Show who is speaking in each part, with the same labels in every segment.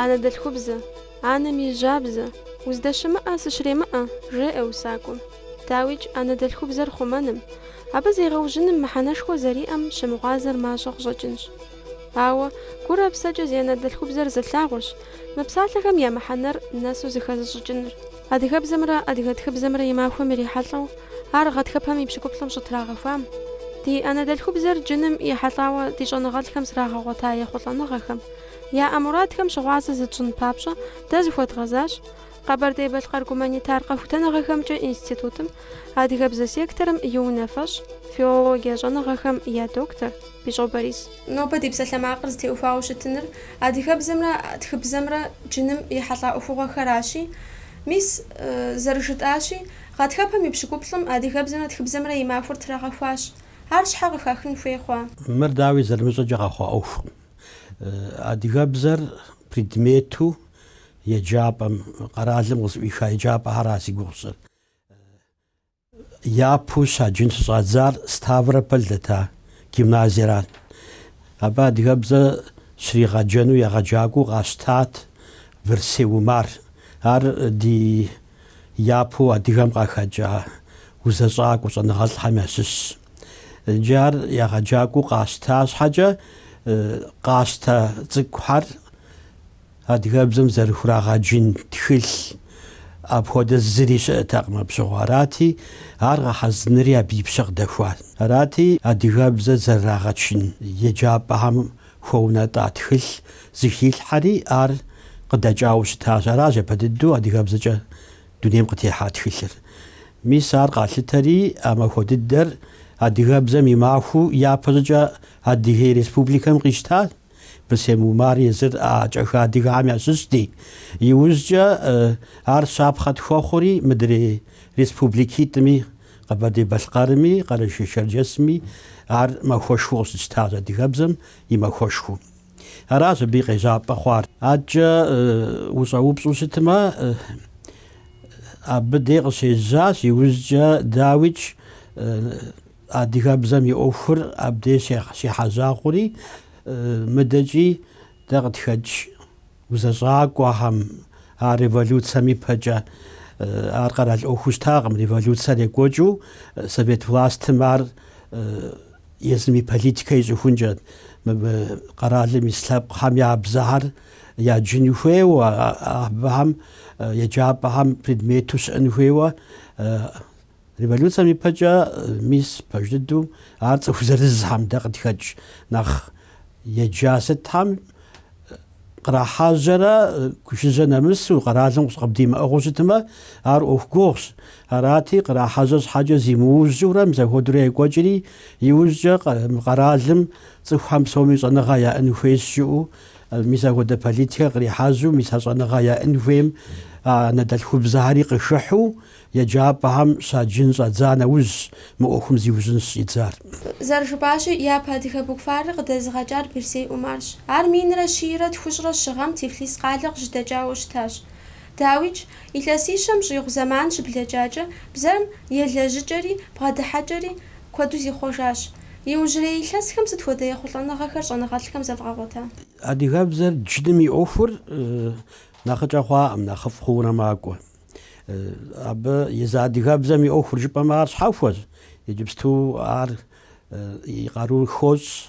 Speaker 1: Анэдэлъхубзэ, анэм и жьабзэ, уздэщымыӏэ сыщремыӏэ, жеӏэ усакӏуэм. Дауикӏ, анэдэлъхубзэр хъумэным, абы зегъэужьыным мыхьэнэшхуэ зэриӏэм щымыгъуазэр мащӏэ къыщӏэкӏынщ. Ауэ, гурэ псэкӏэ зи анэдэлъхубзэр зылъагъущ мы псалъэхэм я мыхьэнэр нэсу зыхэзыщӏыкӏыныр. Адыгэбзэмрэ адыгэ тхыбзэмрэ и махуэм ирихьэлӏэу, ар гъатхэпэм и пщыкӏуплӏым щӏытрагъэхуам, ди анэдэлъхубзэр джыным ехьэлӏауэ ди щӏэныгъэлӏхэм зрагъэгъуэта ехъулӏэныгъэхэм, яӏэ мурадхэм щыгъуазэ зытщӏын папщӏэ дэ зыхуэдгъэзащ Къэбэрдей-Балъкъэр гуманитар къэхутэныгъэхэмкӏэ институтым адыгэбзэ секторым и унафэщӏ, филологие щӏэныгъэхэм я доктор Бищӏо Борис. Нобэ ди псалъэмакъыр зытеухуауэ щытыныр адыгэбзэмрэ тхыбзэмрэ джыным ехьэлӏа ӏуэхугъуэхэращи, мис, зэрыжытӏащи, гъатхэпэм и пщыкӏуплӏым адыгэбзэмрэ тхыбзэмрэ и махуэр трагъэхуащ. Ар щхьэ къыхахын хуей хъуа? Мыр, дауи,
Speaker 2: зэрымыщӏэкӏэ къэхъуа ӏуэхукъым. Адыгэбзэр предмету еджапӏэм, къэралым къызыӏуиха еджапӏэхэра зи гугъу сщӏыр. Япэу щаджын щыщӏадзар Ставрополь дэта гимназиерат. Абы адыгэбзэ щригъэджэну егъэджакӏуэу къащтат Бырсей Умар. Ар ди япэу адыгэм къахэкӏа узэщӏакӏуэ щӏэныгъэлӏхэм ящыщщ. Иджы ар егъэджакӏуэу къащта щхьэкӏэ, къащтэ цӏыкӏухэр Адыгэбзэм зэрыхурагъэджын тхылъ апхуэдэ зыри щыӏэтэкъым абы щыгъуэ. Арати, ар гъэхьэзынри абы и пщэ къыдэхуат. Арати, адыгэбзэр зэрырагъэджын еджапӏэхэм хуэунэтӏа тхылъ зыхилъхьэри ар къыдэкӏауэ щытащ. Аращ япэ дыдэу адыгэбзэкӏэ дунейм къытехьа тхылъыр. Мис ар къалъытэри а махуэ дыдэр адыгэбзэм и махуэу япэщӏыкӏэ Адыгей Республикэм къищтащ. Бырсей Умар езыр а кӏахэ адыгэм ящыщти, иужькӏэ ар щапхъэ тхуэхъури мыдрей республикитӏми, Къэбэрдей-Балъкъэрми, Къэрэшей-Шэрджэсми ар махуэшхуэу къыщытщтащ, адыгэбзэм и махуэшхуэу. Аращ абы и къежьапӏэ хъуар. Адэкӏэ ущӏэупщӏу щытмэ, абы дей къыщежьащ, иужькӏэ, дауикӏ, Адыгэбзэм и ӏуэхур абдей щехьэжьа хъури, мыдэкӏи дэ къытхэкӏ узэщӏакӏуэхэм, а революцэм ипэкӏэ ар къэрал ӏуэхуу щытакъым. Революцэр екӏуэкӏыу совет властым ар езым и политикэ ищӏыхункӏэ, къэралым ис лъэпкъхэм я бзэхэр яджын хуейуэ, абыхэм еджапӏэхэм предмету щыӏын хуейуэ Революцэм ипэкӏэ мис пэж дыдэу ар цӏыху зырызхэм дэ къыдхэкӏ нэхъ еджа сытхэм кърахьэжьэрэ жыжьэ нэмысу къэралым къыбдимыӏыгъыу щытмэ, ар ӏуэху гугъущ. Арати, кърахьэжьэ щхьэкӏэ зимыужьурэ мис апхуэдэурэ екӏуэкӏри, иужькӏэ къэралым цӏыхухэм псоми щӏэныгъэ яӏын хуейщ жиӏэу мис апхуэдэ политикэр кърихьэжьу, мис а щӏэныгъэ яӏын хуейм анэдэлъхубзэхэри къыхыхьу, Еджапӏэхэм щаджын щӏадза нэужьщ мы ӏуэхум зиужьын щӏидзар.
Speaker 1: Зэрыжыпӏащи, япэ адыгэ букварыр къыдэзыгъэкӏар Бырсей Умарщ. Ар минрэ щийрэ тхущӏрэ щы гъэм Тифлис къалэ къыщыдэкӏауэ щытащ. Дауикӏ, илъэсищэм щӏигъу зэман щыблэкӏакӏэ, бзэм елэжьыкӏэри бгъэдыхьэкӏэри куэду зихъуэжащ. Иужьрей илъэсхэм сыт хуэдэ ехъулӏэныгъэхэр щӏэныгъэлӏхэм зэвгъэгъуэта? Адыгэбзэр
Speaker 2: джыным и ӏуэхур нэхъыкӏэ хъуакъым, нэхъыфӏ хъуурэ макӏуэ. Абы езы адыгэбзэм и ӏуэхур жыпӏэмэ ар щхьэхуэщ. Иджыпсту ар и къару хощӏ,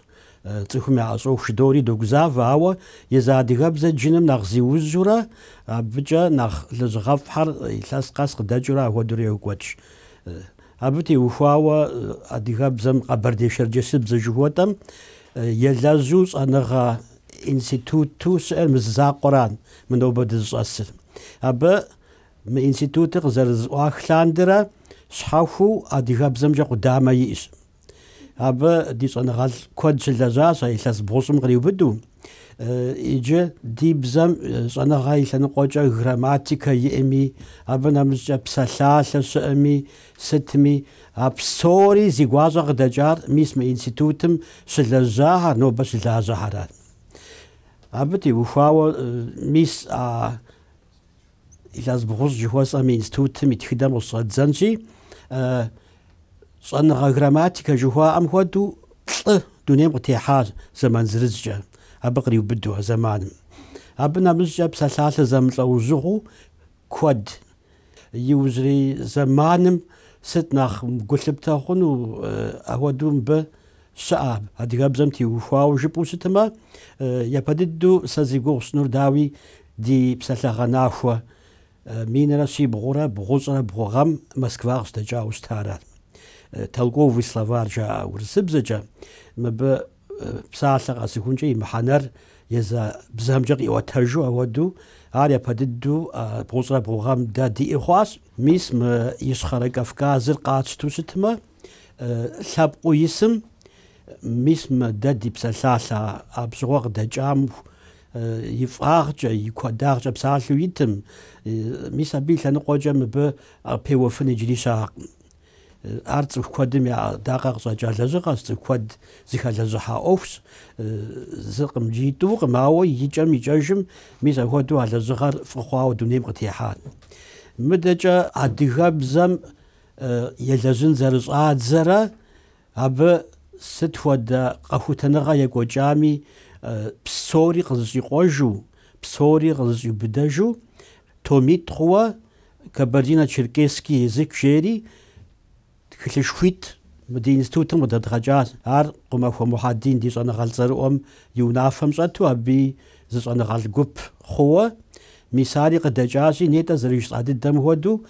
Speaker 2: цӏыхум яӏэщӏоху жыдори догузавэ, ауэ езы адыгэбзэ джыным нэхъ зиужьурэ, абыкӏэ нэхъ лэжьыгъэфӏхэр илъэс къэс къыдэкӏыурэ ахуэдэурэ йокӏуэкӏ. Абы теухуауэ адыгэбзэм къэбэрдей-шэрджэсыбзэ жыхуэтӏэм елэжьу щӏэныгъэ Институту щыӏэр мы зы закъуэра мы нобэ дызыщӏэсыр. Абы мы институтыр къызэрызэӏуах лъандэрэ щхьэхуэу адыгэбзэмкӏэ къудамэ иӏэщ. Абы ди щӏэныгъэлӏ куэд щылэжьащ а илъэс бгъущӏым къриубыду. Иджы ди бзэм щӏэныгъэ и лъэныкъуэкӏэ грамматикэ иӏэми, абы нэмыщӏкӏэ псалъалъэ щыӏэми, Сытми, а псори зи гуащӏэ къыдэкӏар мис мы институтым щылэжьахэр, нобэ щылажьэхэращ. Абы теухуауэ мис а илъэс бгъущӏ жыхуэсӏэм и институтым и тхыдэм къыщыщӏэддзэнщи, щӏэныгъэ грамматикэ жыхуаӏэм хуэдэу плӏы дунейм къытехьащ зэман зырызкӏэ, абы къриубыдэу а зэманым. Абы нэмыщӏкӏэ псалъалъэ зэмылӏэужьыгъуу куэд. Иужьрей зэманым сыт нэхъ гу лъыптэ хъуну апхуэдэу мыбы щыӏэ, адыгэбзэм теухуауэ жыпӏэу щытмэ, япэ дыдэу сэ зи гугъу сщӏынур дауи ди псалъэгъэнахуэ минрэ щибгъурэ бгъущӏрэ бгъу гъэм Москва къыщыдэкӏауэ щытара. Толковый словарь жаӏэ урысыбзэкӏэ, мыбы Псалъэ къэсыхункӏэ и мыхьэнэр езы бзэмкӏэ къиӏуэтэжу апхуэдэу, ар япэ дыдэу бгъущӏрэ бгъугъэм дэ диӏэ хъуащ. Мис мы Ищхъэрэ Кавказыр къатщту щытмэ, лъэпкъыу исым, мис мы дэ ди псалъалъэ а пщӏыгъуэ къыдэкӏам и фӏагъкӏэ, и куэдагъкӏэ псалъэу итым, мис абы и лъэныкъуэкӏэ мыбы пеуэфын иджыри щыӏэкъым. Ар цӏыху куэдым я ӏэдакъэ къыщӏэкӏа лэжьыгъэщ, цӏыху куэд зыхэлэжьыхьа ӏуэхущ. Зыкъым, итӏукъым, ауэ икӏэм-икӏэжым мис апхуэдэу а лэжьыгъэр фӏы хъуауэ дунейм къытехьат. Мыдэкӏэ адыгэбзэм елэжьын зэрыщӏадзэрэ Абы сыт хуэдэ къэхутэныгъэ екӏуэкӏами, псори къызыщӏикъуэжу, псори къызыщӏиубыдэжу, томитӏ хъууэ Кабардино-Черкесский язык жери тхылъышхуитӏ мы ди институтым къыдэдгъэкӏащ. Ар Къумахуэ Мухьэдин ди щӏэныгъэлӏ цӏэрыӏуэм и унафэм щӏэту абыи зы щӏэныгъэлӏ гуп хъууэ. Мис ари къыдэкӏащи, нетӏэ зэрыжысӏа дыдэм хуэдэу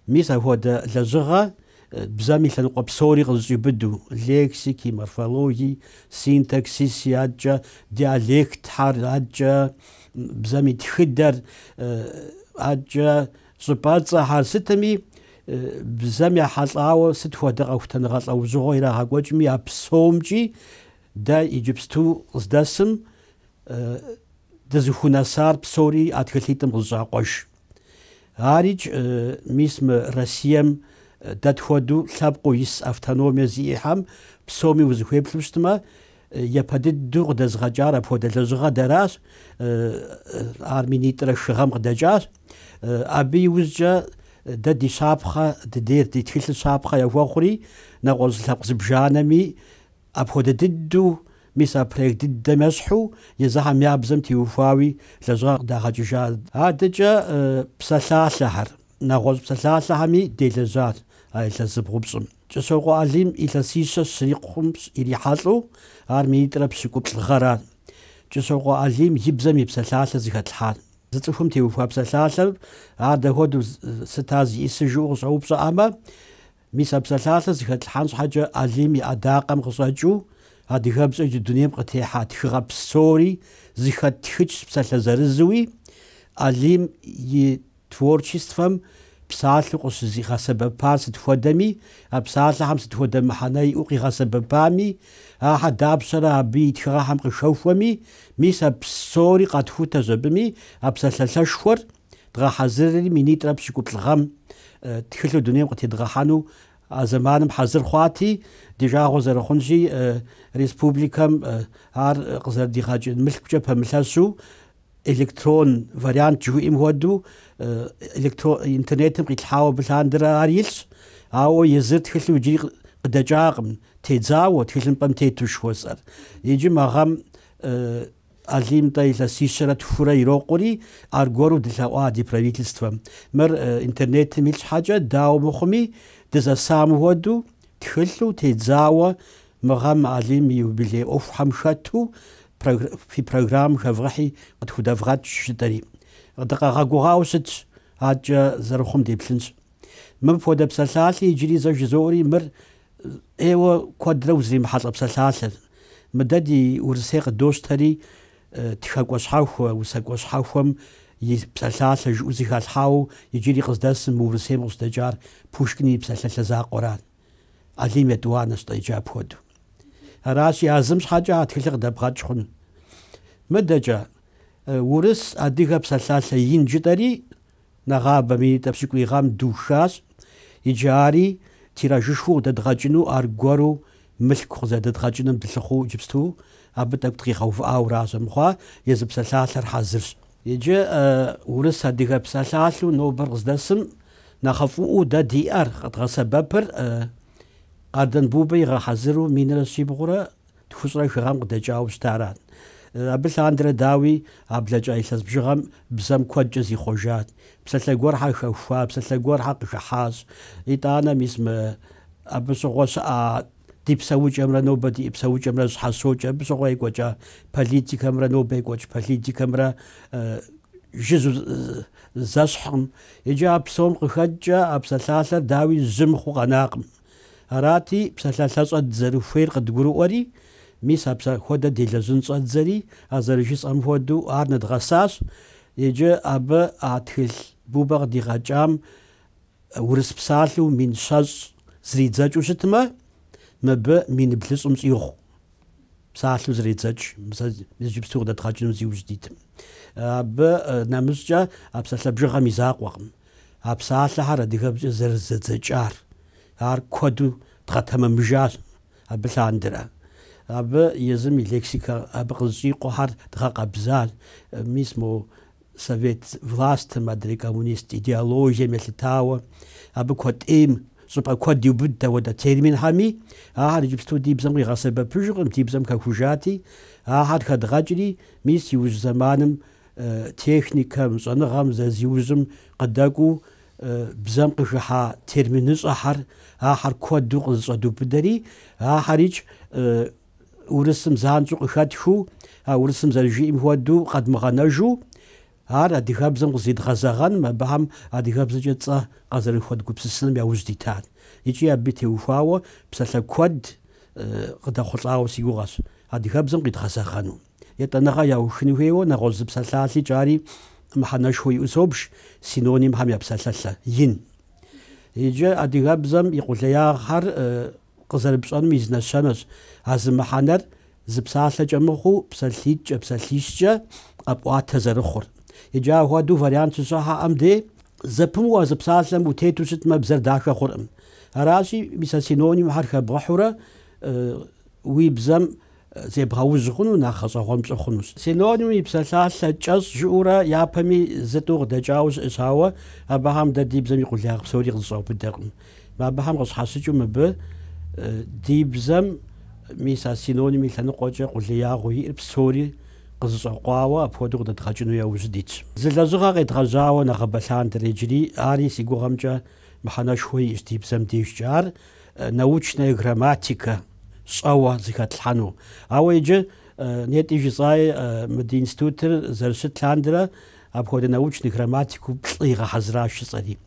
Speaker 2: Мис апхуэдэ лэжьыгъэ бзэм и лъэныкъуэ псори къызыщӏиубыду, лексики, морфологии, синтаксиси адэкӏэ, диалектхьэр адэкӏэ, бзэм и тхыдэр адэкӏэ, щӏыпӏэцӏэхьэр, сытми, бзэм ехьэлӏауэ сыт хуэдэ къэхутэныгъэ лӏэужьыгъуэ ирагъэкӏуэкӏми, а псомкӏи дэ иджыпсту къыздэсым дызыхунэсар псори а тхылъитӏым къызыщӏакъуэж. Арикӏ мис мы Россием дэ тхуэдэу лъэпкъыу ис автономие зиӏэхьэм псоми узыхуеплъу щытмэ, япэ дыдэу къыдэзыгъэкӏар апхуэдэ лэжьыгъэ дэращ, ар минитӏрэ хы гъэм къыдэкӏащ. Абы и ужькӏэ дэ ди щапхъэ дыдейр, ди тхылъыр щапхъэ яхуэхъури, нэгъуэщӏ лъэпкъ зыбжанэми, Апхуэдэ дыдэу, мис а проект дыдэм ещхьу, езыхьэм я бзэм теухуауи лэжьыгъэ къыдагъэкӏыжа. Адэкӏэ псалъалъэхэр, нэгъуэщӏ псалъалъэхэми делэжьащ а илъэс зыбгъупщӏым. Кӏыщокъуэ Алим илъэсищэ щрикъум ирихьэлӏэу, ар минитӏрэ пщыкӏуплӏ гъэрат Кӏыщокъуэ Алим и бзэм и псалъалъэ зыхэтлъхьар. Зы цӏыхум теухуа псалъалъэр, ар дэ хуэдэу, сыт ар зиӏисыжу къыщӏэупщӏэӏэмэ, Мис а псалъалъэр зыхэтлъхьэн щхьэкӏэ Алим и ӏэдакъэм къыщӏэкӏыу адыгэбзэкӏэ дунейм къытехьа тхыгъэ псори зыхэттхыкӏщ псалъэ зырызуи, Алим и творчествэм псалъэу къыщызигъэсэбэпар сыт хуэдэми, а псалъэхьэм сыт хуэдэ мыхьэнэ иӏэу къигъэсэбэпами, ахьэ дапщэрэ абы и тхыгъэхьэм къыхэхуэми, мис а псори къатхутэщ абыми а псалъалъэшхуэр. дгъэхьэзырри минитӏрэ пщыкӏуплӏ гъэм тхылъу дунейм къытедгъэхьэну а зэманым хьэзыр хъуати, ди жагъуэ зэрыхъунщи, республикэм ар къызэрыдигъэкӏын мылъкукӏэ пэмылъэщу электрон вариант жыхуиӏэм хуэдэу интернетым къилъхьауэ абы лъандэрэ ар илъщ, ауэ езыр тхылъу иджыри къыдэкӏакъым, тедзауэ тхылъымпӏэм тету жыхуэсӏэр. Иджы мы гъэм Алим-тӏэ илъэсищэрэ тхурэ ирокъури, аргуэру дылъэӏуа ди правительствэм. Мыр интернетым илъ щхьэкӏэ, дауэ мыхъуми, дызэсам хуэдэу, тхылъу, тедзауэ мы гъэм Алим и юбилей ӏуэхухэм хэту фи программ хэвгъэхьи къытхудэвгъэкӏ жытӏэри. Дыкъагъэгугъауэ щытщ, адэкӏэ зэрыхъум деплъынщ. Мыпхуэдэ псалъалъи иджыри зэ жызоӏэри, мыр ӏейуэ куэдрэ узримыхьэлӏэ псалъалъэт. Мыдэ ди Урысей къыдощтэри тхэкӏуэ щхьэхуэ, усэкӏуэ щхьэхуэм и псалъалъэ жыӏэу зыхалъхьауэ иджыри къыздэсым мы Урысейм къыщыдэкӏар Пушкин и псалъалъэ закъуэрат, Алим етӏуанэщ-тӏэ иджы апхуэдэу. Аращи, а зым щхьэкӏэ а тхылъыр къыдэбгъэкӏ хъуну. Мыдэкӏэ, урыс-адыгэ псалъалъэ ин жытӏэри Нэгъабэ минитӏрэ пщыкӏуий гъэм духащ иджы ари тиражышхуэу къыдэдгъэкӏыну, аргуэру мылъку къызэдэдгъэкӏыным дылъыхъуу иджыпсту абы тӏэкӏу дыкъигъэувыӏауэращ мыхъуа, езы псалъалъэр хьэзырщ. Иджы урыс-адыгэ псалъалъэу нобэр къыздэсым нэхъыфӏыӏуэу дэ диӏэр къыдгъэсэбэпыр Къардэн Бубэ игъэхьэзыру минрэ щибгъурэ Тхущӏрэ хы гъэм къыдэкӏауэ щытарат. Абы лъандэрэ, дауи, а блэкӏа илъэс бжыгъэм бзэм куэдкӏэ зихъуэжат. Псалъэ гуэрхьэр хэхуа, псалъэ гуэрхьэр къыхыхьащ. Итӏанэ, мис мы абы щыгъуэ щыӏа ди псэукӏэмрэ нобэ ди псэукӏэмрэ щхьэщокӏ, абы щыгъуэ екӏуэкӏа политикэмрэ нобэ екӏуэкӏ политикэмрэ жыжьэу зэщхькъым. Иджы а псом къыхэкӏкӏэ а псалъалъэр, дауи, жьы мыхъуу къэнакъым. Арати, псалъалъэщӏэ дызэрыхуейр къыдгурыӏуэри, мис апсэхуэдэ делэжьын щӏэддзэри, а зэрыжысӏэм хуэдэу ар нэдгъэсащ, иджы абы а тхылъ Бубэ къыдигъэкӏам урыс псалъэу мин щэщӏ зридзэкӏыу щытмэ, мыбы мин блыщӏым щӏигъу псалъэу зредзэкӏ, мис иджыпсту къыдэдгъэкӏыну зиужь дитым. Абы нэмыщӏкӏэ а псалъэ бжыгъэм и закъуэкъым. А псалъэхэр адыгэбзэкӏэ зэрызэдзэкӏар, ар куэду дгъэтэмэмыжащ, абы лъандэрэ. Абы езым и лексикэ абы къызэщӏикъуэхэр дгъэкъэбзащ. Мис мо совет властым, адрей коммунист идеологием елъытауэ, абы куэд ӏейм щӏыпӏэ куэд иубыдт апхуэдэ терминхэми, ахэр иджыпсту ди бзэм къигъэсэбэпыжыркъым, ди бзэм хэхужати, ахэр хэдгъэкӏри, мис иужь зэманым техникэм, щӏэныгъэм зэзиужьым къыдэкӏуу бзэм къыхыхьа терминыщӏэхэр, ахэр куэду къызэщӏэдубыдэри, ахэрикӏ урысым занщӏэу къыхэтхыу, а урысым зэрыжиӏэм хуэдэу къэдмыгъэнэжу, ар адыгэбзэм къызидгъэзэгъэным, абыхэм адыгэбзэкӏэ цӏэ къазэрыхуэдгупсысыным яужь дитат. Икӏи абы теухуауэ псалъэ куэд къыдэхъулӏауэ си гугъэщ адыгэбзэм къидгъэзэгъэну. етӏанэгъэ яухыну хуейуэ нэгъуэщӏ зы псалъалъэ, икӏи ари мыхьэнэшхуэ иӏэу собж, синонимхэм я псалъалъэ, ин. Иджы адыгэбзэм и къулеягъхэр къызэрыпщӏэнум и зы нэщэнэщ а зы мыхьэнэр зы псалъэкӏэ мыхъуу псалъитӏкӏэ, псалъищкӏэ къэпӏуатэ зэрыхъур. Иджы ахуэдэу вариант щыщымыӏэм де зэпымыу а зы псалъэм утету щытмэ, бзэр дахэ хъуркъым. Аращи, мис а синонимхэр хэбгъыхьурэ уи бзэм зебгъэужь хъуну нэхъ гъэщӏэгъуэн пщӏы хъунущ. Синонимым и псалъалъэ кӏэщӏ жыӏэурэ япэми зытӏу къыдэкӏауэ щыӏэщ, ауэ абыхэм дэ ди бзэм и къулеягъ псори къызэщӏаубыдэркъым. Абыхэм къыщхьэщыкӏыу мыбы ди бзэм мис а синоним и лъэныкъуэкӏэ къулеягъыу иӏэр псори къызэщӏэкъуауэ апхуэдэу къыдэдгъэкӏыну яужь дитщ. Зы лэжьыгъэ къедгъэжьауэ нэгъэбэ лъандэрэ иджыри, ари си гугъэмкӏэ мыхьэнэшхуэ иӏэщ ди бзэм дежкӏэ, ар научная грамматика. щӏэуэ зыхэтлъхьэну. Ауэ иджы нетӏи жысӏаи мы ди институтыр зэрыщыт лъандэрэ апхуэдэ научный грамматику плӏы игъэхьэзыращ жысӏэри.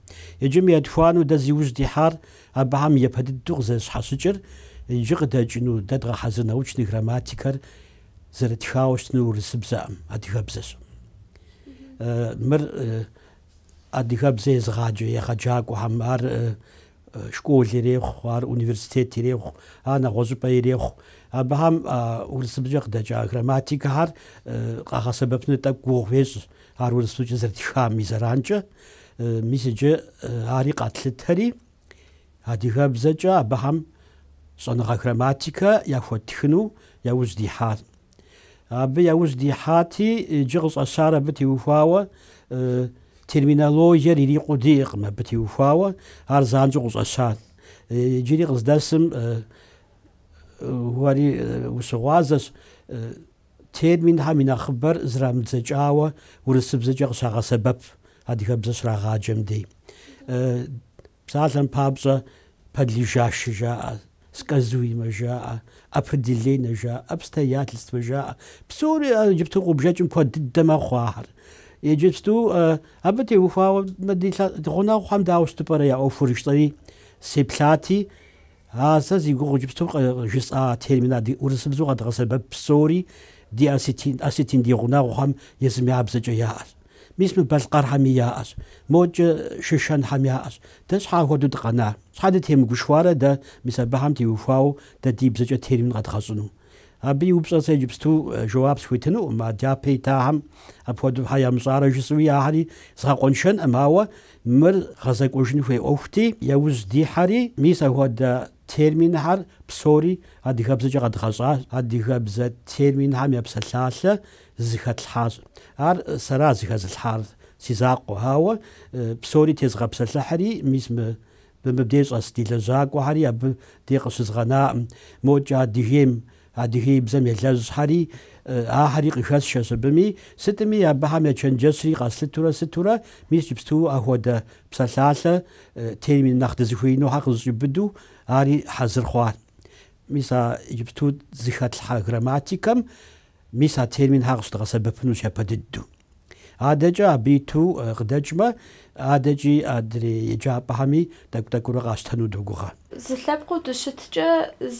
Speaker 2: Иджы мы етхуану дэ зи ужь дихьар абыхэм япэ дыдэу къызэрыщхьэщыкӏыр, иджы къыдэкӏыну дэ дгъэхьэзыр научный грамматикэр зэрытхауэ щытынур урысыбзэӏым, адыгэбзэщ. Мыр адыгэбзэ езыгъаджэ егъэджакӏуэхэм, ар школ ирехъу, ар университет ирехъу, ар нэгъуэщӏыпӏэ ирехъу. Абыхэм а урысыбзэкӏэ къыдэкӏа грамматикэхэр къагъэсэбэпыну тӏэкӏу гугъу ещӏ ар урысыбзэкӏэ зэрытхам и зэранкӏэ. Мис иджы ари къэтлъытэри, адыгэбзэкӏэ абыхэм щӏэныгъэ грамматикэ яхуэттхыну яужь дихьар. Абы яужь дихьати, иджы къыщӏэщар абы теухуауэ терминологиер ирикъуу диӏэкъым, абы теухуауэ ар занщӏэу къыщӏэщар. Иджыри къыздэсым уэри ущыгъуазэщ терминхэм и нэхъыбэр зэрамыдзэкӏауэ урысыбзэкӏэ къыщагъэсэбэп адыгэбзэ щрагъаджэм дей. Псалъэм папщӏэ, подлежащэ жаӏэ, сказуемэ жаӏэ, определенэ жаӏэ, обстоятельствэ жаӏэ. Псори иджыпсту къубжэкӏым куэд дыдэ мэхъу ахэр. Иджыпсту абы теухуауэ, ди гъунэгъухэм дауэ щыту пӏэрэ я ӏуэхур жысӏэри сеплъати, А сэ зи гугъу иджыпсту къыжысӏа термин адыгэ, урысыбзэу къэдгъэсэбэп псори ди осетин ди гъунэгъухэм езым я бзэкӏэ яӏэщ. Мис мы балъкъэрхэми яӏэщ, модкӏэ шышэнхэм яӏэщ. Дэ щхьэ ахуэдэу дыкъэнар? Щхьэ дытемыгушхуарэ дэ мис абыхэм теухуауэ дэ ди бзэкӏэ термин къэдгъэщӏыну? Абы и упщӏэр сэ иджыпсту жэуап схуетынукъым, а дяпэ итахэм апхуэдэу щхьэ ямыщӏарэ жысӏэуи ахэри згъэкъуэншэнкъым, ауэ Мыр гъэзэкӏуэжын хуей ӏуэхути, яужь дихьэри, мис апхуэдэ терминхэр псори адыгэбзэкӏэ къэдгъэщӏащ, адыгэбзэ терминхэм я псалъалъэ зыхэтлъхьащ. Ар сэра зыхэзылъхьар, си закъуэ, ауэ псори тезыгъэпсэлъыхьри, мис мы Мы мыбдеж щӏэс ди лэжьакӏуэхэри абы де къыщызгъэнакъым. Мокӏэ Адыгейм, адыгеибзэм елэжьхэри, ахэри къыхэсшэщ абыми. Сытми, абыхэм я чэнджэщри къэслъытурэ сытурэ, мис иджыпсту ахуэдэ псалъалъэ термин нэхъ дызыхуеинухэр къызыщӏиубыдэу ари хьэзыр хъуа. Мис а иджыпсту зыхэтлъхьэ грамматикэм Мис а терминхэр къыщыдгъэсэбэпынущ япэ дыдэу. Адэкӏэ абы иту къыдэкӏмэ, адэкӏи адрей еджапӏэхэми тӏэкӏу-тӏэкӏуурэ къащтэну догугъэ. Зы лъэпкъыу
Speaker 1: дыщыткӏэ,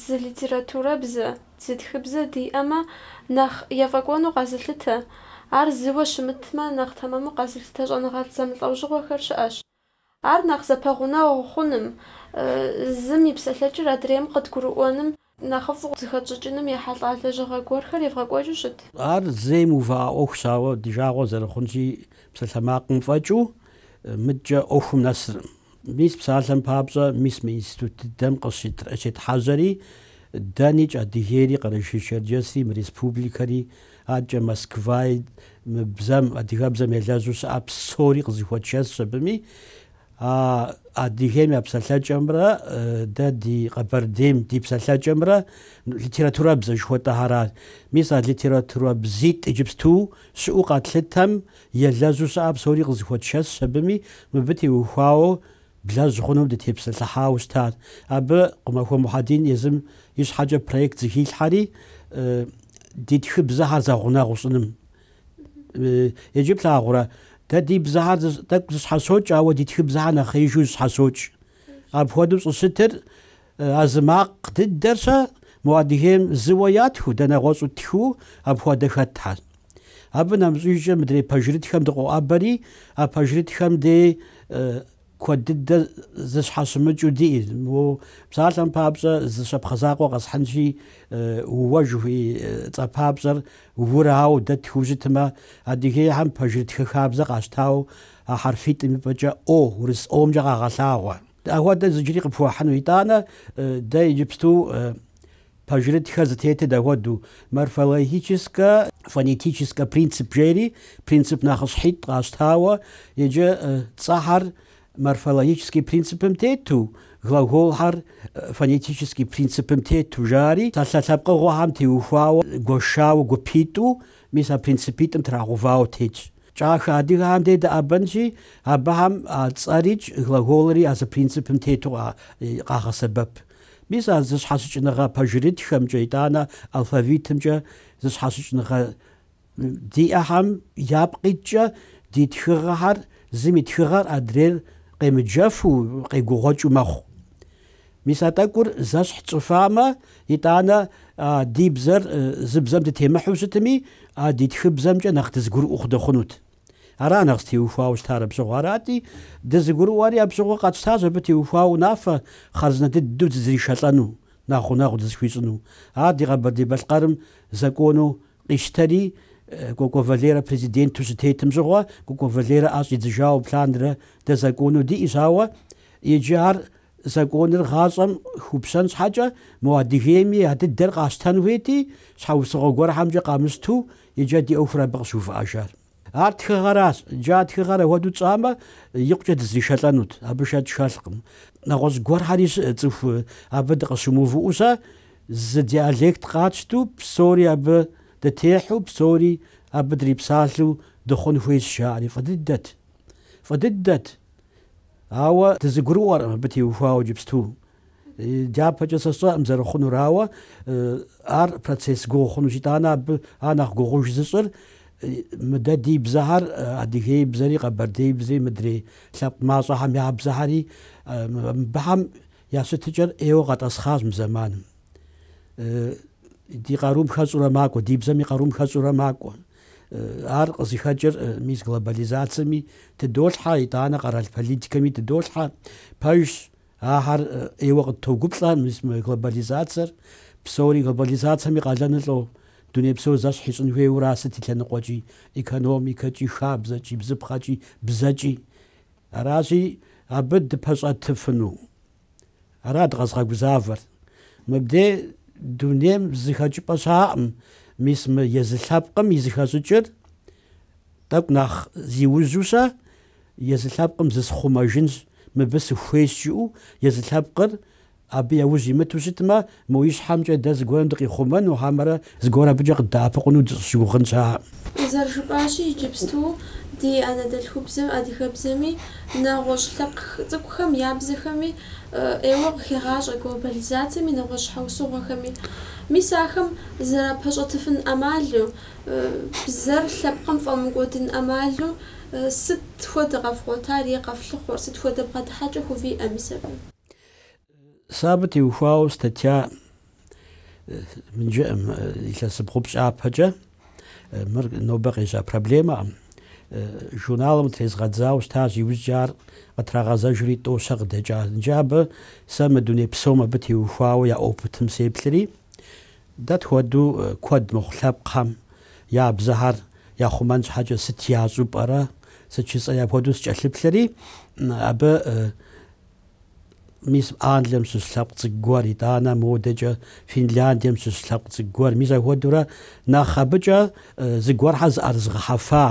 Speaker 1: зы литературэбзэ, зы тхыбзэ диӏэмэ, нэхъ ефӏэкӏуэну къэзылъытэ. Ар зыуэ щымытмэ, нэхъ тэмэму къэзылъытэ щӏэныгъэлӏ зэмылӏэужьыгъуэхэр щыӏэщ. Ар нэхъ зэпэгъунэгъу хъуным, зым и псэлъэкӏэр адрейм къыдгурыӏуэным, нэхъыфӏу зыхэтщӏыкӏыным ехьэлӏа лэжьыгъэ гуэрхэр евгъэкӏуэкӏыу щыт. Ар зэи
Speaker 2: мыувыӏэ ӏуэхущ, ауэ ди жагъуэ зэрыхъунщи, псалъэмакъым фӏэкӏыу мыдкӏэ ӏуэхум нэсыркъым. Мис псалъэм папщӏэ, мис мы институт дыдэм къыщетхьэжьэри, дэникӏ, Адыгейри, Къэрэшей-Черджэсри, мы республикэри, Адэкӏэ Москваи мы бзэм, адыгэбзэм елэжьу щыӏэ псори къызыхуэтшэсщ абыми. А Адыгейм я псэлъэкӏэмрэ дэ ди Къэбэрдейм ди псэлъэкӏэмрэ литературэбзэ жыхуэтӏэхэра. Мис а литературэбзитӏ иджыпсту щыӏэу къэтлъытэм елэжьу щыӏэ псори къызыхуэтшэсщ абыми, мыбы теухуауэ Блэжь хъунум дытепсэлъыхьауэ щытат. Абы Къумахуэ Мухьэдин езым и щхьэкӏэ проект зыхилъхьэри, ди тхыбзэхэр зэгъунэгъу щӏыным. Иджы плъагъурэ, дэ ди бзэхэр тӏэкӏу зыщхьэщокӏ, ауэ ди тхыбзэхэр нэхъеижу зыщхьэщокӏ. Апхуэдэу щӏыщытыр А зы макъ дыдэр-щэ мо Адыгейм зыуэ ятхыу, дэ нэгъуэщӏу тхыу апхуэдэ хэтхьэр. Абы нэмыщӏыжкӏэ мыдрей пэжырытхэм дыкъоӏэбэри, а пэжырытхэм дей куэд дыдэ зыщхьэщымыкӏыу диӏи, мо псалъэм папщӏэ зы щапхъэ закъуэ къэсхьынщи, Уэ жыхуиӏэ цӏэпапщӏэр Урауэ дэ тхыу щытмэ, Адыгейхьэм пэжырытхэ хабзэ къащтауэ а хьэрфитӏым и пӏэкӏэ О, урыс О-мкӏэ къагъэлъагъуэ. Ахуэдэ зыджыри къыпхуэхьыну итӏанэ, дэ иджыпсту пэжырытхэр зытетыр дахуэдэу, морфологическэ, фонетическэ принцип жери, принцип нэхъыщхьитӏ къащтауэ, иджы цӏэхьэр морфологический принципым тету, глаголхьэр фонетический принципым тету жари, псалъэ лъэпкъыгъуэхэм теухуауэ, гуэшауэ, гупитӏу, мис а принципитӏым трагъэувауэ тетщ. Кӏахэ адыгэхэм де дэӏэбэнщи, абыхэм а цӏэрикӏ, глаголри а зы принципым тету къагъэсэбэп. Мис а зэщхьэщыкӏыныгъэ пэжырытхэмкӏэ итӏанэ алфавитымкӏэ зэщхьэщыкӏыныгъэ диӏэхэм япкъ иткӏэ ди тхыгъэхэр зым и тхыгъэр адрейр къемыджэфу, къегугъуэкӏыу мэхъу. Мис а тӏэкӏур зэщхь тщӏыфамэ, итӏанэ ди бзэр зы бзэм дытемыхьу щытми, а ди тхыбзэмкӏэ нэхъ дызыгурыӏуэу хъу дыхъунут. Ара нэхъ зытеухуауэ щытар абы щыгъуэ арати, дызыгурыӏуэри абы щыгъуэ къэтщтащ абы теухуауэ унафэ хъарзынэ дыдэу дызришэлӏэну, нэхъ гъунэгъу дызыхуищӏыну. Ар ди Къэбэрдей-Балъкъэрым закону къищтэри, Кӏуэкӏуэ Валерэ президенту щытетым щыгъуэ, Кӏуэкӏуэ Валерэ ӏэ щӏидзыжауэ абы лъандэрэ дэ закону диӏэщ, ауэ иджы ар Законыр гъащӏэм хупщэн щхьэкӏэ, мо Адыгейми а дыдэр къащтэн хуейти, щхьэусыгъуэ гуэрхьэмкӏэ къамыщту иджы а ди ӏуэхур абы къыщыувыӏэжар. Ар тхыгъэращ, иджы а тхыгъэр ахуэдэу тщӏамэ, икъукӏэ дызришэлӏэнут, абы шэч хэлъкъым. Нэгъуэщӏ гуэрхьэри щыӏэ цӏыху, абы дыкъыщымыувыӏэу-щэ, зы диалект къатщту, псори абы дытехьу, псори абы дрипсалъэу дыхъун хуейщ, жаӏэри. Фӏы дыдэт. Фӏы дыдэт. Ауэ дызыгурыӏуэркъым абы теухуауэ иджыпсту. Дяпэкӏэ сэ сщӏэӏым зэрыхъунур, ауэ ар процесс гугъу хъунущ, итӏанэ абы ар нэхъ гугъуж зыщӏыр мы дэ ди бзэхьэр, адыгейбзэри, къэбэрдейбзэри, мыдрей лъэпкъ мащӏэхэм я бзэхьэри, мыбыхьэм я щытыкӏэр ӏейуэ къэтӏэсхъащ мы зэманым. Ди къарум хэщӏурэ макӏуэ, ди бзэм и къарум хэщӏурэ макӏуэ. Ар къызыхэкӏыр мис глобализацэми тыдолъхьэ, итӏанэ къэрал политикэми тыдолъхьэ. Пэжщ, ахьэр ӏейуэ къыттогуплӏэ мис мы глобализацэр. Псори глобализацэм и къалэныр лӏо, дуней псор зэщхь ищӏын хуейуэ ара сыт и лъэныкъуэкӏи, экономикэкӏи, хабзэкӏи, бзыпхъэкӏи, бзэкӏи. Аращи, абы дыпэщӏэтыфыну. Ара дыкъэзыгъэгузавэр? Мыбдей дунейм зы хэкӏыпӏэ щаӏым, мис мы езы лъэпкъым и зыхэщӏыкӏыр тӏэкӏу нэхъ зиужьу-щэ, езы лъэпкъым зысхъумэжынщ, мыбы сыхуейщ жиӏэу, езы лъэпкъыр абы яужь имыту щытмэ, Мо ищхьэмкӏэ дэ зыгуэрым дыкъихъумэну, хьэмэрэ зыгуэр абыкӏэ къыддэӏэпыкъуну дыщӏыщыгугъын щыӏэкъым.
Speaker 1: Зэрыжыпӏащи, иджыпсту ди анэдэлъхубзэм, адыгэбзэми, нэгъуэщӏ лъэпкъ цӏыкӏухэм я бзэхэми ӏейуэ къыхегъащӏэ глобализацэми нэгъуэщӏ щхьэусыгъуэхэми. Мис ахэм зэрапэщӏэтыфын ӏэмалу, бзэр лъэпкъым фӏэмыкӏуэдын ӏэмалу сыт хуэдэ къэфгъуэтар е къэфлъыхъуэр, сыт хуэдэ бгъэдыхьэкӏэ хувиӏэ мис абы?
Speaker 2: Сэ абы теухуауэ статья мы иджыӏым, илъэсибгъу-пщӏы ипэкӏэ, мыр нобэ къежьа проблемэкъым. Журналым трезгъэдзауэ щытащ, иужькӏэ ар къытрагъэзэжри тӏэу-щэ къыдэкӏащ. Иджы абы сэ мы дуней псом абы теухуауэ я опытым сеплъри, дэ тхуэдэу куэд мыхъу лъэпкъхэм я бзэхэр яхъумэн щхьэкӏэ сыт ящӏу пӏэрэ, сыт жысӏэу апхуэдэу сыкӏэлъыплъри, абы Мис Англием щыщ лъэпкъ цӏыкӏу гуэр, итӏанэ модэкӏэ Финляндием щыщ лъэпкъ цӏыкӏу гуэр, мис апхуэдэурэ нэхъ абыкӏэ зыгуэрхьэр зыӏэрызыгъэхьэфа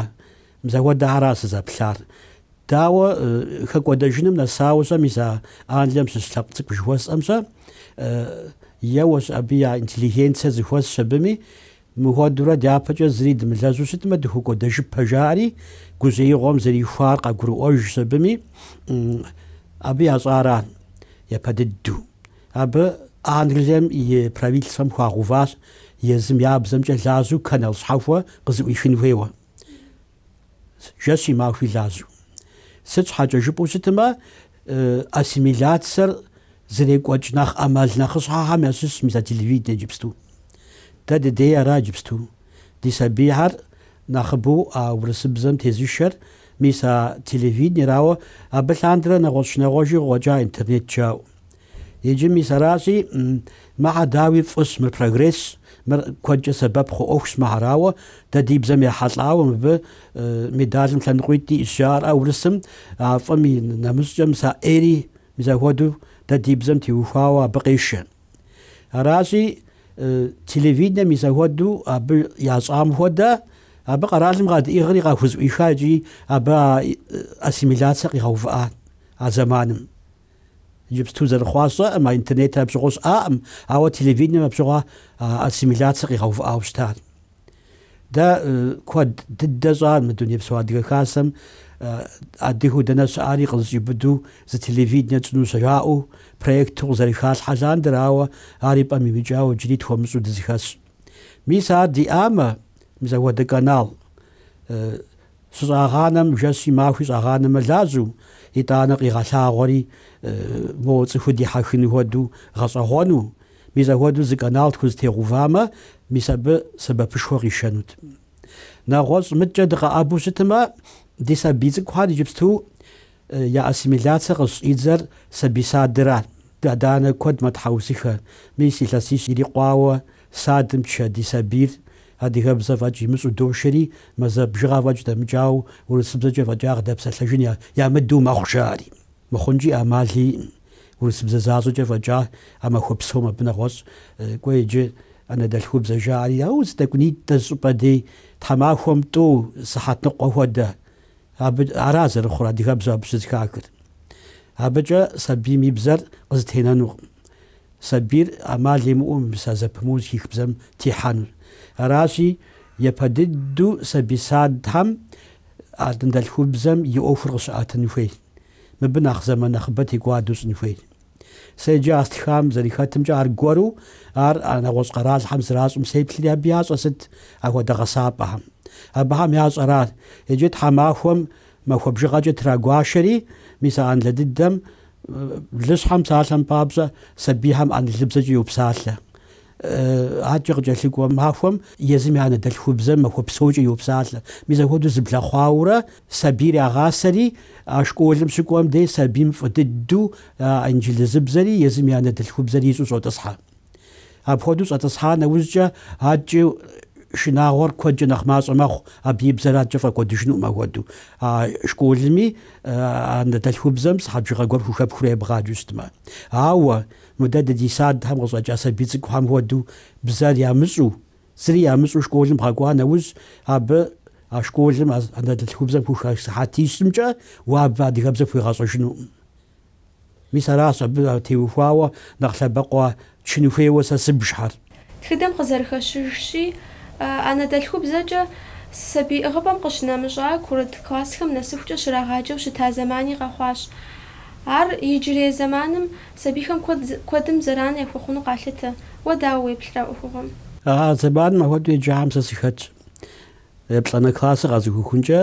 Speaker 2: мис ахуэдэхьэра сызэплъар. Дауэ хэкӏуэдэжыным нэсауэ-щэ, мис а Англием щыщ лъэпкъ цӏыкӏу жыхуэсӏэм-щэ, еуэщ абы я интеллигенцэ зыхуэсщ абыми, Мыхуэдэурэ дяпэкӏэ зыри дымылэжьу щытмэ, дыхэкӏуэдэжыпэ, жаӏэри гужьеигъуэм зэрихуар къагурыӏуэжщ абыми, абы ящӏара япэ дыдэу. Абы Англием и правительствэм хуагъэуващ езым я бзэмкӏэ лажьэу канал щхьэхуэ къызыӏуихын хуейуэ. Жэщи махуи лажьэу. Сыт щхьэкӏэ жыпӏэу щытмэ, ассимиляцэр зэрекӏуэкӏ нэхъ ӏэмал нэхъыщхьэхэм ящыщщ мис а телевиденэ иджыпсту. Дэ дыдей ара иджыпсту? Ди сабийхэр нэхъыбэу а урысыбзэм тезышэр мис а телевиденэра, ауэ, абы лъандэрэ нэгъуэщӏ нэгъуэщӏи къыкъуэкӏа интернет жаӏэу. Иджы мис аращи, мыхьэ дауи фӏыщ, мыр прогрессщ, мыр куэдкӏэ сэбэп хъу ӏуэхущ мыхьэр, ауэ, дэ ди бзэм ехьэлӏауэ мыбы медалым лъэныкъуитӏ иӏщ жаӏэрӏэ урысым, а фӏым и нэмыщӏкӏэ мис а ӏейри мис ахуэдэу дэ ди бзэм теухуауэ абы къешэ. Аращи, телевиденэм мис ахуэдэу абы ящӏам хуэдэ, абы къэралым къадиӏыгъри къахузыӏуиха икӏи абы а ассимиляцэ къигъэувыӏа а зэманым. Иджыпсту зэрыхъуар сщӏэкъым, а интернетыр абы щыгъуэ щыӏакъым, ауэ телевиденэм абы щыгъуэ ассимиляцэ къигъэувыӏауэ щытар. Дэ куэд дыдэ щӏар мы Дунейпсо Адыгэ Хасэм адыгэу дэнэ щыӏари къызыщӏиубыду зы телевиденэ тщӏыну-щэ жаӏэу проекту къызэрыхалъхьэ лъандэрэ, ауэ ар и пӏэм имыкӏауэ иджыри тхуэмыщӏу дызэхэсщ. Мис ар диӏамэ, мис апхуэдэ канал Сыщӏагъанэм жэщи махуи щӏагъанэмэ лажьэу, итӏанэ къигъэлъагъуэри моуэ цӏыхур дихьэхын хуэдэу гъэщӏэгъуэну. Мис ахуэдэу зы канал тхузэтегъувамэ, мис абы сэбэпышхуэ къишэнут. Нэгъуэщӏ мыдкӏэ дыкъэӏэбу щытмэ, ди сабий цӏыкӏухэр иджыпсту Я ассимиляцэ къыщӏидзэр сабий садыра. Адэ-анэ куэд мэтхьэусыхэ. Мис илъэсищ ирикъуауэ садым тшэ ди сабийр адыгэбзэ фӏэкӏ имыщӏу дошэри, мазэ бжыгъэ фӏэкӏ дэмыкӏауэ урысыбзэкӏэ фӏэкӏа къыдэпсэлъэжын ямыдэу мэхъу жаӏэри. Мыхъункӏи амал иӏым. Урысыбзэ защӏэкӏэ фӏэкӏа а махуэ псом абы нэгъуэщӏ кӏуэ иджы анэдэлъхубзэ жаӏэри. Ауэ зы тӏэкӏунитӏэ зы щӏыпӏэ дей тхьэмахуэм тӏэу сыхьэт ныкъуэ хуэдэ. Абы ара зэрыхъур адыгэбзэу абы щызыхахыр. Абыкӏэ сабийм и бзэр къызэтенэнукъым. Сабийр ӏэмал имыӏэу мис а зэпымыу зыхих бзэм техьэнур. Аращи, япэ дыдэу сабий садхэм ара ди анэдэлъхубзэм и ӏуэхур къыщыӏэтын хуейр. Мыбы нэхъ зэман нэхъыбэ текӏуадэу щӏын хуейр. Сэ иджы а стхам зэрихэтымкӏэ аргуэру ар а нэгъуэщӏ къэралхэм зэращӏым сеплъри абы ящӏэ сыт ахуэдэ гъэсапӏэхэм. Абыхэм ящӏэра, иджы тхьэмахуэм махуэ бжыгъэкӏэ трагуашэри, мис а Англэ дыдэм, блыщхьэм псалъэм папщӏэ, сабийхэм англыбзэкӏэ йопсалъэ. Адкӏэ къыкӏэлъыкӏуэ махуэм езым и анэдэлъхубзэр махуэ псокӏэ йопсалъэ. Мис ахуэдэу зэблэхъуаурэ сабийр ягъасэри, а школым щыкӏуэм дей сабийм фӏы дыдэу а инджылызыбзэри езым и анэдэлъхубзэри ищӏу щӏотӏысхьэ. Апхуэдэу щӏэтӏысхьа нэужькӏэ адкӏэ шынагъуэр куэдкӏэ нэхъ мащӏэ мэхъу, абы и бзэр адкӏэ фӏэкӏуэдыжынукъым ахуэдэу. А школми анэдэлъхубзэм сыхьэт бжыгъэ гуэр хухэпхурэ ебгъаджэу щытмэ. Ауэ Мыдэ дэ ди садхэм къыщӏэкӏа сабий цӏыкӏухэм хуэдэу бзэр ямыщӏу, зыри ямыщӏу школым бгъэкӏуа нэужь, абы а школым а анэдэлъхубзэм хухах сыхьэтищымкӏэ уэ абы адыгэбзэ пхуегъэщӏэжынукъым. Мис аращ абы теухуауэ нэхъ лъэбакъуэ чын хуейуэ сэ сыбжхэр.
Speaker 1: Тхыдэм къызэрыхэщыжщи, анэдэлъхубзэкӏэ сабий ӏыгъыпӏэм къыщынэмыщӏа курыт классхэм нэсыхукӏэ щрагъаджэу щыта зэмани къэхъуащ. Ар иджырей зэманым сабийхэм куэдым зэран яхуэхъуну къалъытэ. Уэ дауэ уеплърэ а ӏуэхугъуэм? А зэманым
Speaker 2: ахуэдэу еджахэм сэ сыхэтщ. Еплӏанэ классыр къэзухыхункӏэ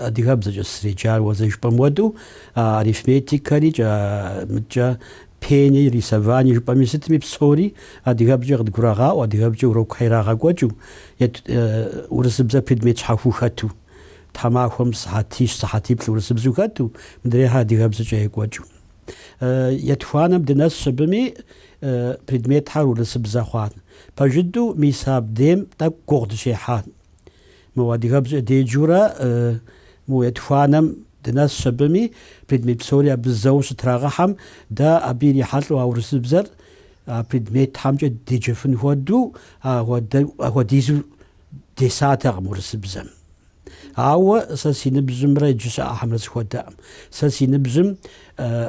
Speaker 2: адыгэбзэкӏэ сызэреджар уэ зэрыжыпӏэм хуэдэу, а арифметикэри, кӏэ, мыдкӏэ, пени, рисовани жыпӏэми сытми псори адыгэбзэкӏэ къыдгурагъаӏуэ, адыгэбзэкӏэ урокхэр ирагъэкӏуэкӏыу, ет, урысыбзэ предмет щхьэхуу хэту, тхьэмахуэм сыхьэтищ, сыхьэтиплӏ урысыбзэу хэту, мыдрейхэр адыгэбзэкӏэ екӏуэкӏыу. Етхуанэм дынэс щыбыми, предметхэр урысыбзэ хъуат. Пэж дыдэу мис абдейм тӏэкӏу гугъу дыщехьат. Мо адыгэбзэ деджэурэ мы етхуанэм дынэс щыбыми, предмет псори абы зэу щытрагъыхьэм, дэ абы ирихьэлӏэу а урысыбзэр а предметхьэмкӏэ деджэфын хуэдэу, ахуэдизу десатэкъым урысыбзэм. Ауэ сэ си ныбжьымрэ иджы щыӏэхэмрэ зэхуэдэкъым. Сэ си ныбжьым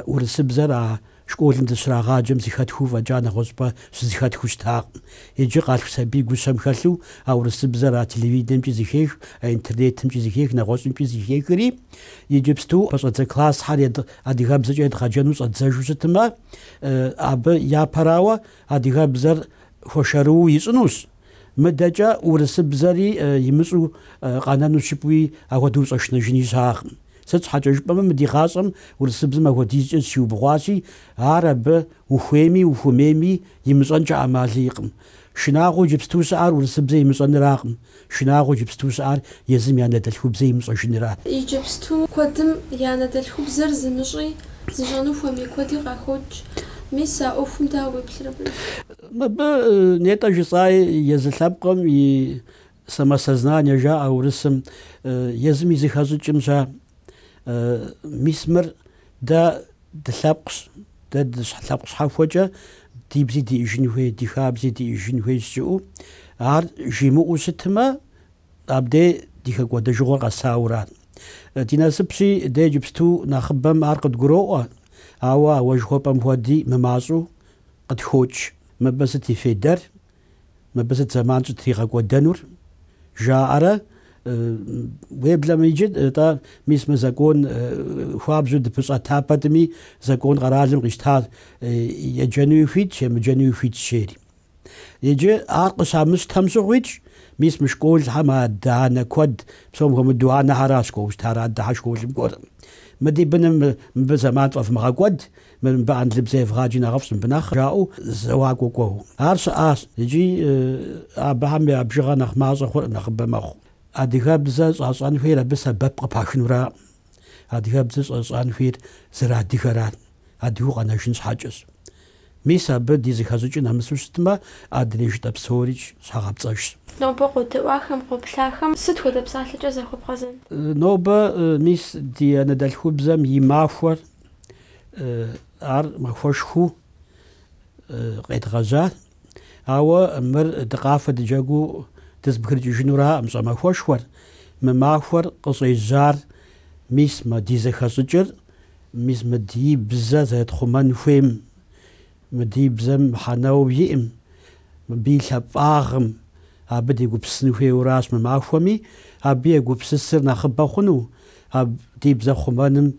Speaker 2: урысыбзэр а школым дыщрагъаджэм зыхэтхыу фӏэкӏа нэгъуэщӏпӏэ щызыхэтхыу щытакъым. Иджы къалъху сабий гущэм хэлъу а урысыбзэр а телевиденэмкӏи зыхех, а интернетымкӏи зыхех, нэгъуэщӏымкӏи зыхехри, иджыпсту пэщӏэдзэ классхэр адыгэбзэкӏэ едгъэджэну щӏэддзэжу щытмэ, абы япэрауэ адыгэбзэр хуэшэрыуэу ищӏынущ. Мыдэкӏэ урысыбзэри имыщӏу къэнэну жыпӏэуи ахуэдэу ущӏэшынэжыни щыӏэкъым. Сыт щхьэкӏэ жыпӏэмэ, мы ди гъащӏэм урысыбзэм апхуэдизкӏэ зыщиубгъуащи, ар абы ухуейми ухуэмейми имыщӏэнкӏэ ӏэмал иӏэкъым. Шынагъуэ иджыпсту щыӏэр урысыбзэр имыщӏэныракъым, шынагъуэ иджыпсту щыӏэр езым и анэдэлъхубзэ имыщӏэжыныращ. Иджыпсту куэдым
Speaker 1: и анэдэлъхубзэр зымыщӏи, зыщӏэну хуэмей куэди къахокӏ. Мис а ӏуэхум дауэ уеплърэ абы?
Speaker 2: Мыбы нетӏэ жысӏаи езы лъэпкъым и самосознание жаӏэ урысым, езым и зыхэщӏыкӏым ща. Мис мыр дэ дылъэпкъщ, дэ дылъэпкъ щхьэхуэкӏэ ди бзи диӏыжын хуей, ди хабзи диӏыжын хуей жиӏэу, ар жимыӏэу щытмэ, абдей ди хэкӏуэдэжыгъуэр къэсаура. Ди насыпщи, дэ иджыпсту нэхъыбэм ар къыдгуроӏуэ, ауэ ауэ жыхуэпӏэм хуэди мымащӏэу Къытхокӏ, мыбы сыт и фейдэр, мыбы сыт зэман щӏытригъэкӏуэдэнур? жаӏэрэ, уеблэмэ иджы, атӏэ, мис мы закон хуабжьу дыпэщӏэта пэтми, закон къэралым къищта еджэнуи хуитщ, емыджэнуи хуитщ жери. Иджы ар къыщамыщтэм щыгъуикӏ, мис мы школхэм адэ-анэ куэд, псом хуэмыдэу анэхьэращ кӏуэу щытар, адэхьэ школым кӏуэркъым. Мы ди быным мыбы зэман фӏэвмыгъэкӏуэд, Мы мыбы англыбзэ евгъаджи нэхъыфӏщ мыбы нэхъ, жаӏэу зэуакӏуэ кӏуэу. Ар щыӏащ икӏи абыхэм я бжыгъэ нэхъ мащӏэ хъуркъым, нэхъыбэ мэхъу. Адыгэбзэ щӏащӏэн хуейр абы сэбэп къыпахынураӏым. Адыгэбзэ щӏащӏэн хуейр зэрыадыгэращ, адыгэу къэнэжын щхьэкӏэщ. Мис абы ди зэхэщӏыкӏыр нэмысу щытмэ, адрей жытӏэ псорикӏ щхьэгъэпцӏэжщ. Нобэ къодэӏуахэм,
Speaker 1: къоплъахэм сыт хуэдэ псалъэкӏэ захуэбгъэзэн? Нобэ
Speaker 2: мис ди анэдэлъхубзэм и махуэр ар махуэшхуэу къедгъэжьар ауэ мыр дыкъафэ дыджэгу дызэбгрыкӏыжынураӏым щӏэмахуэшхуэр мы махуэр къыщӏежьар мис мы ди зэхэщӏыкӏыр мис мы ди бзэ зэрытхъумэн хуейм мы ди бзэм мыхьэнэу иӏым мыбы и лъапӏагъым абы дегупсысын хуейуращ мы махуэми абы егупсысыр нэхъыбэ хъуну а ди бзэ хъумэным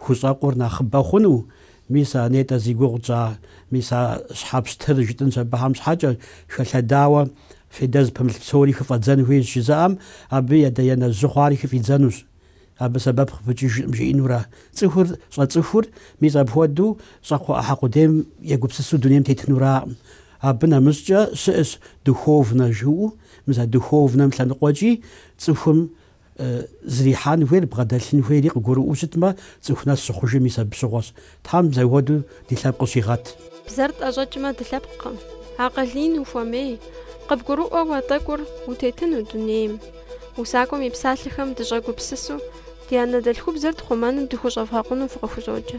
Speaker 2: Хущӏэкъур нэхъыбэ хъуну? Мис а нетӏэ зи гугъу тщӏа? Мис а щхьэ пщтыр жытӏынщ абыхэм щхьэкӏэ, хэлъэдауэ федэ зыпымылъ псори хыфӏэдзэн хуейщ жызыӏэм, абы и адэ-анэ жьы хъуари хыфӏидзэнущ. Абы сэбэп къыпыкӏыжкъым жиӏэнурэ. Цӏыхур щӏэцӏыхур, мис апхуэдэу щӏакхъуэ ӏыхьэ къудейм егупсысу дунейм тетынураӏым. Абы нэмыщӏкӏэ щыӏэщ духовнэ жыӏэу, мис а духовнэм лъэныкъуэкӏи цӏыхум Зэрихьэн хуейр, бгъэдэлъын хуейри къыгурыӏуэу щытмэ, цӏыху нэс щыхъужыр мис абы щыгъуэщ. Тхьэм зэхуэдэу ди лъэпкъ щигъэт. Бзэр тӏэщӏэкӏмэ
Speaker 1: дылъэпкъкъым, акъыл ин ухуэмей, къыбгурыӏуэу а тӏэкӏур утетыну дунейм. Усакӏуэм и псалъэхэм дыщӏэгупсысу, ди анэдэлъхубзэр тхъумэным дыхущӏэвгъэкъуну фыкъыхузоджэ.